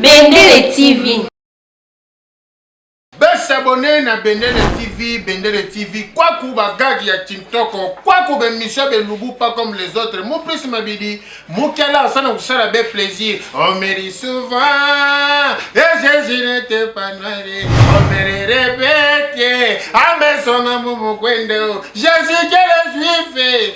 Bendele TV. Besabone na Bendele TV, Bendele TV, kwaku bagagi ya Tintoko, kwaku bemisio belubu pas comme les autres. Mon plus mabidi, mukela asana kusala be plaisir. On me dit souvent, et eh, Jésus n'était pas noir, on me le répète, à mes sons, à mon Jésus, quel juif,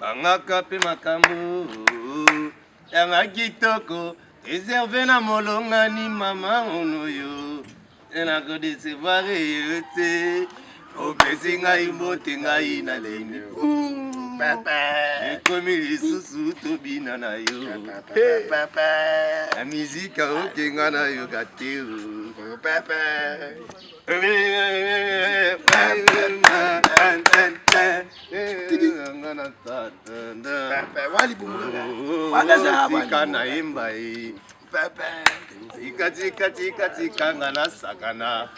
bangaka mpe makambo yanga kitoko reserve na molongani mama onoyo enakodesevare yo te opesi ngai mbote ngai na lemi ekomi lisusu tobina na yo na mizika okenga na yoka te tika nayemba ye tika tika tika tika nga nasakana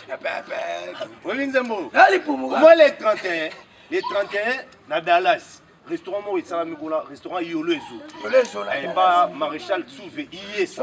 oyebi nzembo omwa le 31 le 31 na dallas restaurant moko esalami kuna restaurant yolo ezo epa maréchal souve iyesa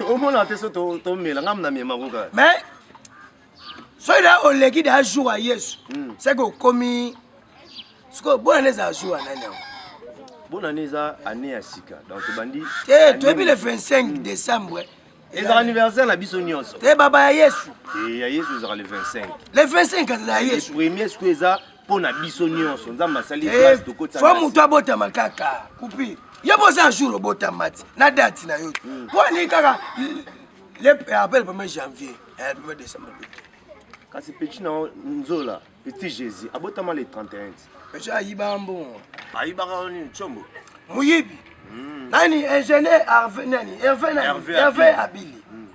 omona te so tomela ngai namemako kaka mais soki da oleki da jour ya yesu hmm. seke okomi sikoyo bona nde ezala jour ya nani yango bona nde eza année ya sika donc tobandi te toyebi le 25 hmm. décembre ezalaka anniversaire na biso nyonso te baba ya yesu eh, ya yesu ezalaka le 25 le 25 azala ya yesu premier sikoyo eza mpo na biso nyonso nzambe asali eh, fo moto abotama kaka kupi yo boza un jour obotama ti na date na yo hmm. mpo ani kaka le eh, appel premier janvier eh, premier décembre kasi petit na nzola petit jésus abotama le 31 petit ayibaka mbongo ayibaka nini combo moyibi hmm. nani ingénieur herve nani herve nani herve abili hmm.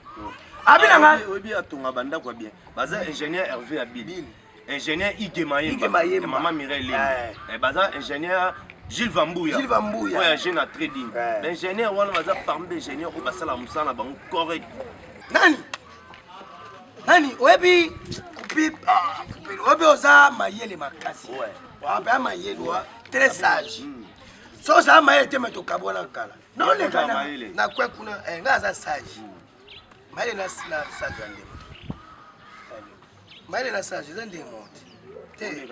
abili anga oyebi atonga bandako ya bien baza ingénieur herve abili ingénieur Ige Mayemba ya mama Mireille Lembe eh. eh, baza ingénieur Gilles Vambuya Gilles Vambuya oyo agent na trading eh. ba ingénieur wana baza parmi ba ingénieur oyo basala mosala na bango correct nani nani oyebi kupip ah, oyebi oza mayele makasi wape ya mayele wa très sage hmm. so oza mayele te me tokabwana kala noleka na kwe kuna eh, nga aza sage hmm. mayele na sage ya ndema mayele na sage eza ndenge moko te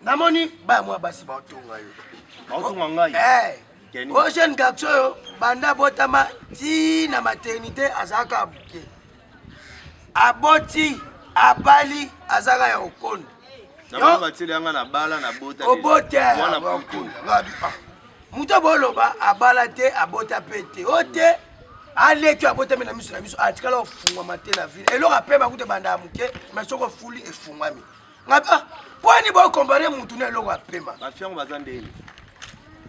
namoni baya mwa basi baotonga yo baotonga ngai eh, o jeune garçon oyo banda abotama ti na maternité azalaka abuke aboti abali azalaka ya okoni obotemoto boloba abala te abota mpe te o te aleki abotami na miso na miso atikala ofungwama te na vile eloko apema kuta ebanda ya moke mai soki ofuli efungwami ngabi ah pwani bokombare mutu na eloko apema bafiango baza ndeni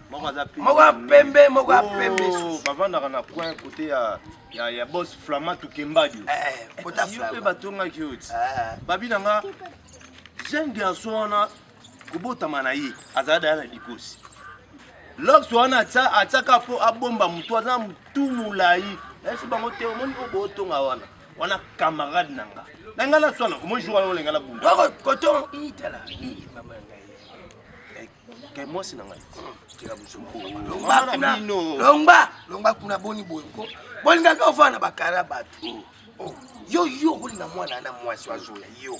moko aza pembe moko ya pembe moko ya pembe oh, bavandaka na coin kote ya ya ya boss flama tukembadio eh, eh, yo mpe batongaki yo ti eh. babi na nga jeune garçon wana kobotama na ye azala daya na dikosi lox wana atiaka mpo abomba motu aza motu molai nayebisi bango te omoni oyo bootonga wana wana camarade na nga na ngai naswana omoni jour wana olenga nabungakotonga itala mama na ngai eh, eh, mwasi na ngai longba longba kuna boni boye ko bolingaka ovanda bakara bato oh. Oh. yo yo okolinga mwana na mwasi azoya yo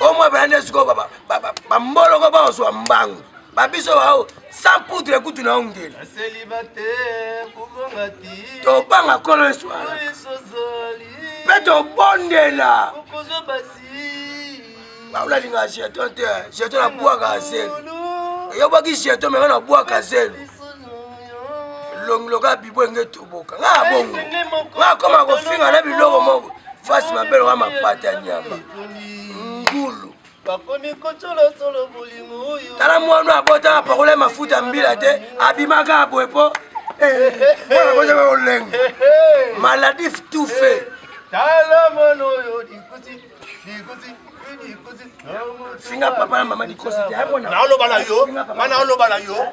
omo ebala nde sikoyo bamboloko baozwa mbangu babiso bao sans poudre kutu na ongeli tobanga kolo eswala mpe tobondela baolalinga jeton te jeton na bwaka zelu eyobaki jeton mema na bwaka zelu elongi lokola bibo enge toboka nga ya bongo nga akoma kofinga na biloko moko fasi mabe lokola mapata ya nyama ngulu tala mwana abotama pakola mafuta mbila te abimaka aboye mpo mwana bozaka kolenga maladif tout fait finga papa na mama likosi te naloba na yo nga naoloba na yo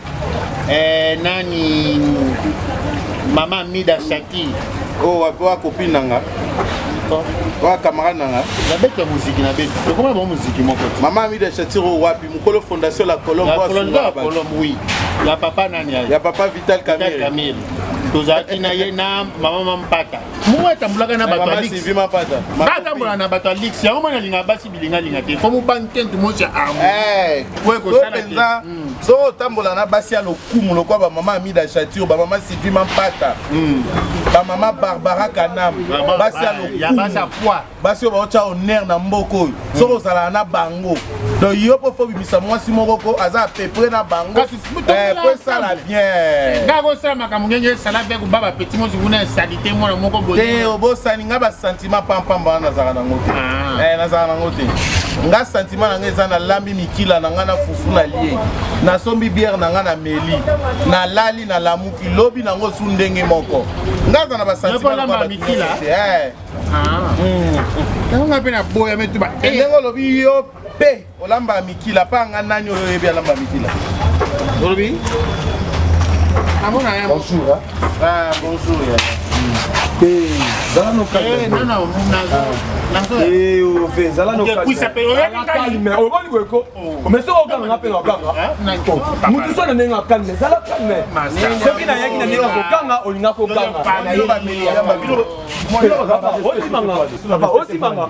eh, nani mama mida shaki oyo oh, wapi wa kopine na nga oyo camarade na nga nabeta moziki na beti tokomana bango moziki moko ti mama mida shaki oyo oh, wapi mokolo fondation la colombe oui ya papa nani ya papa vital camille tozalaki na ye na mama mampata moko atambulaka na bato ya lix atambola na bato ya lix yango mwana alinga basi bilingalinga te fo mobangi te ntu mosi ya armo eh, po ekosala mpenza hmm. so otambola na basi ya lokumu lokola bamama amida chatio bamama sylvie mampata hmm. bamama barbara kanam basi ya lokumu basi oyo baotya honere na mboka oyo soki hmm. ozalaka na bango donc yo mpo fo bimisa mwasi moko ko aza apepre na bango Eh, po esala bien nga kosala makambo ngenge esala bien koba bapeti mosi kuna esalite mwana moko bote obosani nga basentiment pampamba wana nazalaka nango te ah. eh, nazalaka nango te nga sentiment na nga eza nalambi mikila na nga na fufu na lie nasombi biere na nga na meli nalali nalamuki lobi nango su ndenge moko nga aza na basentimentmikila eh. ah. hmm. yango nga mpe naboya metuba ndenge olobi yo mpe Olamba ya mikila pa nga nani oyo oyebi alamba ya mikila olobi amona ya bonjour hein? ah bonjour ya zala nokalme oboni boyeko mais soki okanga nga mpe na okanga motu so na ndenge akalme zala kalme soki nayaki na ndenge kokanga olinga kokanga osimanga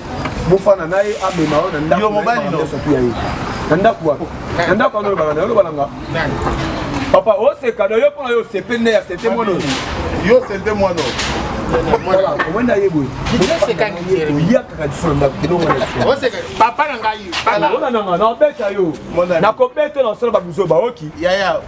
bofana na ye amema yo na ndako yo mobali no soki ya ye na ndako wapi na ndako wana olobaka na yo olobaka nga papa oseka na yo mpo na yo osepe nde ya sete mwana yo sete mwana omona ye boye oyakaka liso na ndako elongo papa na ngai nakobeta yo nakobeta na osala babuzo baoki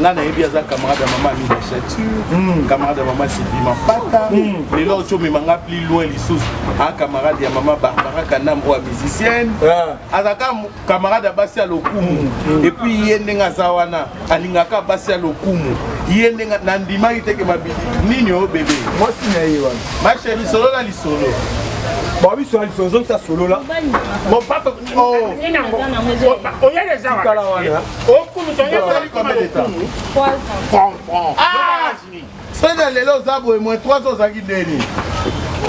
nga nayebi aza camarade ya mama amina chature hmm. camarade ya mama sylvie mapata hmm. lelo oki omema nga plus loin lisusu a camarade ya mama barbara kanam oyo ya musicienne aza ka camarade ya basi ya lokumu hmm. epuis ye ndenge aza wana alingaka basi ya lokumu ye ndenge nandimaki teke mabidi nini oyo bebe mwasi na ye wana masheri solo na lisolo babiso na lisolo ozongisa solola sena lelo oza boye mwe 3 ans ozalaki ndeni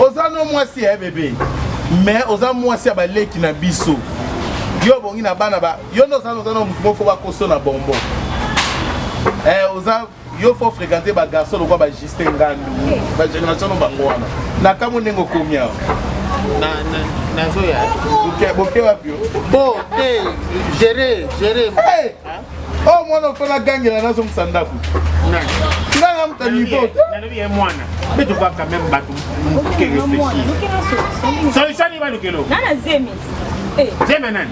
oza no mwasi ya bebe mais oza mwasi ya baleki na biso yo obongi na bana ba yo nde oza oza na mofo bakoso na bombo eh, oza yo faut fréquenter ba garçon lokola ba Justin Ngandu ba génération no bango wana na kamo ndenge okomi awa na na nazoya boke boke wapi bo te gérer gérer hey! o oh, mwana ofela agangela nazongisa ndako nga namuta niveau nalobi ye mwana mpe tokoka quand même bato moke réfléchir solution nini balukelo zeme nani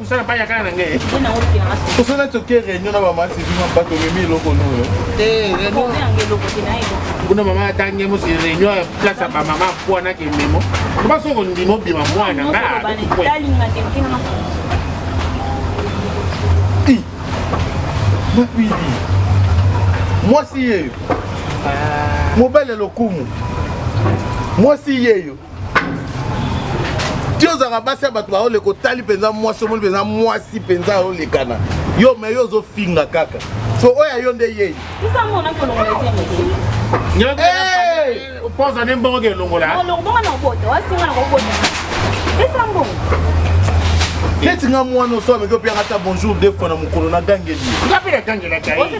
osala baya kaka na ngai osala toke réunion na bamasi bino bato omemi eloko noyo kuna mama atangi mosi réunion ya place ya bamama apwana kememo oba soki ondima obima mwana nga mapidi mwasi yeyo mobali ya lokumu mwasi yeyo ti ozalaka basi ya bato baoleka otali mpenza mwasi omoni mpenza mwasi mpenza aolekana yo me yo ozofinga kaka so oyo ya yo nde yei opoza nde mbongo ke elongola neti nga mwana oso ameki opianga ata bonjour de fois na mokolo na gangeli nga mpe na gangelaka ye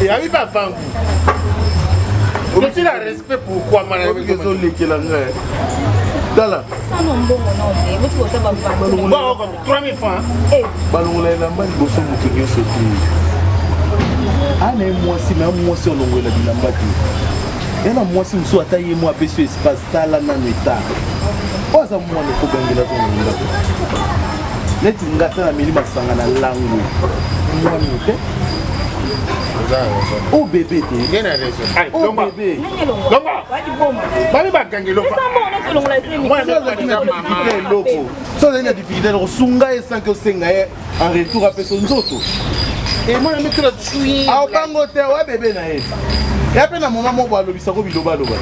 eyami bavangu otila respect pourkoi mwana ezolekela ngai tala balongola elamba liboso moto nyonso te ana ye mwasi na mwasi olongolela bilamba te ye na mwasi mosusu ata ye mwa apesi espace tala nano etanga oyo aza mwana ekobangela zongo ndako neti nga ata nameli masanga na langu mwani te o oh, bebe te o oh, bebe bami bakangi eloko so ozali na difficulté eloko sunga ye sanki osenga ye en retour apeso nzoto emona mikolo aobango te oya bebe na ye ya mpe na moma moko alobisako bilobaloba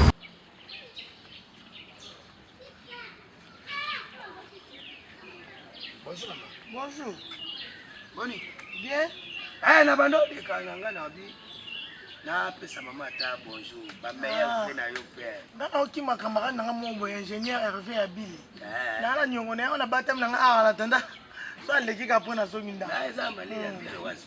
Bonjour maman. Bonjour. Boni? Bien. Eh na bando de kanga nga na bi. Na pesa mama ta bonjour. Ba meilleur ah. fait na yo père. Nga na oki makamara na nga mo bo ingénieur Hervé Abili. Eh. Na la nyongo na yo na batam na nga ala ah, tanda. So aleki ka pona zongi nda. Na eza mali ya hmm. biro wazi.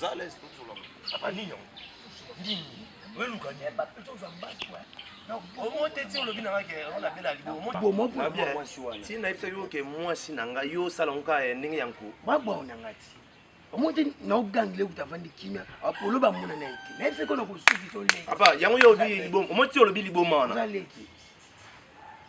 Zales to zola. Apa nini yango? Nini? Wewe luka nini? Ba peto za mbaki wa. omonte ti olobi nanga ke ona bela libomomosi na yebisa yo ke mwasi na ngai yo osala ngo kaka eh, ndenge ya nko babwao na ngai ti omonte naogangile kuta avandi kimia apolo bamona na ye te na yebisa ko na kosukisa oleki apa yango yo olobi liboma omonte ti olobi liboma wana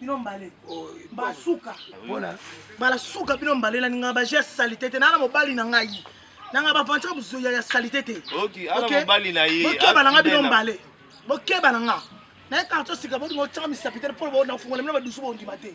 bino mbale basuka bala suka bino mbale na ningaka baje ya salite te nana mobali na ngai nanga baventure buzoya ya salite te bokeba na nga bino mbale bokeba na nga naye karto sika bolinga otyaka misapi te mpo nafungola bino badusu bondima te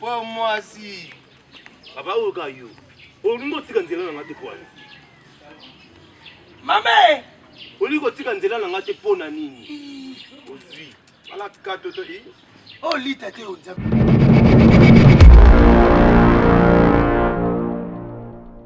po mwasi papa oyo ka yo olingi otika nzela na nga te pwani mame olingi kotika nzela na nga te mpo na nini ozwi alaka toto i olita te oza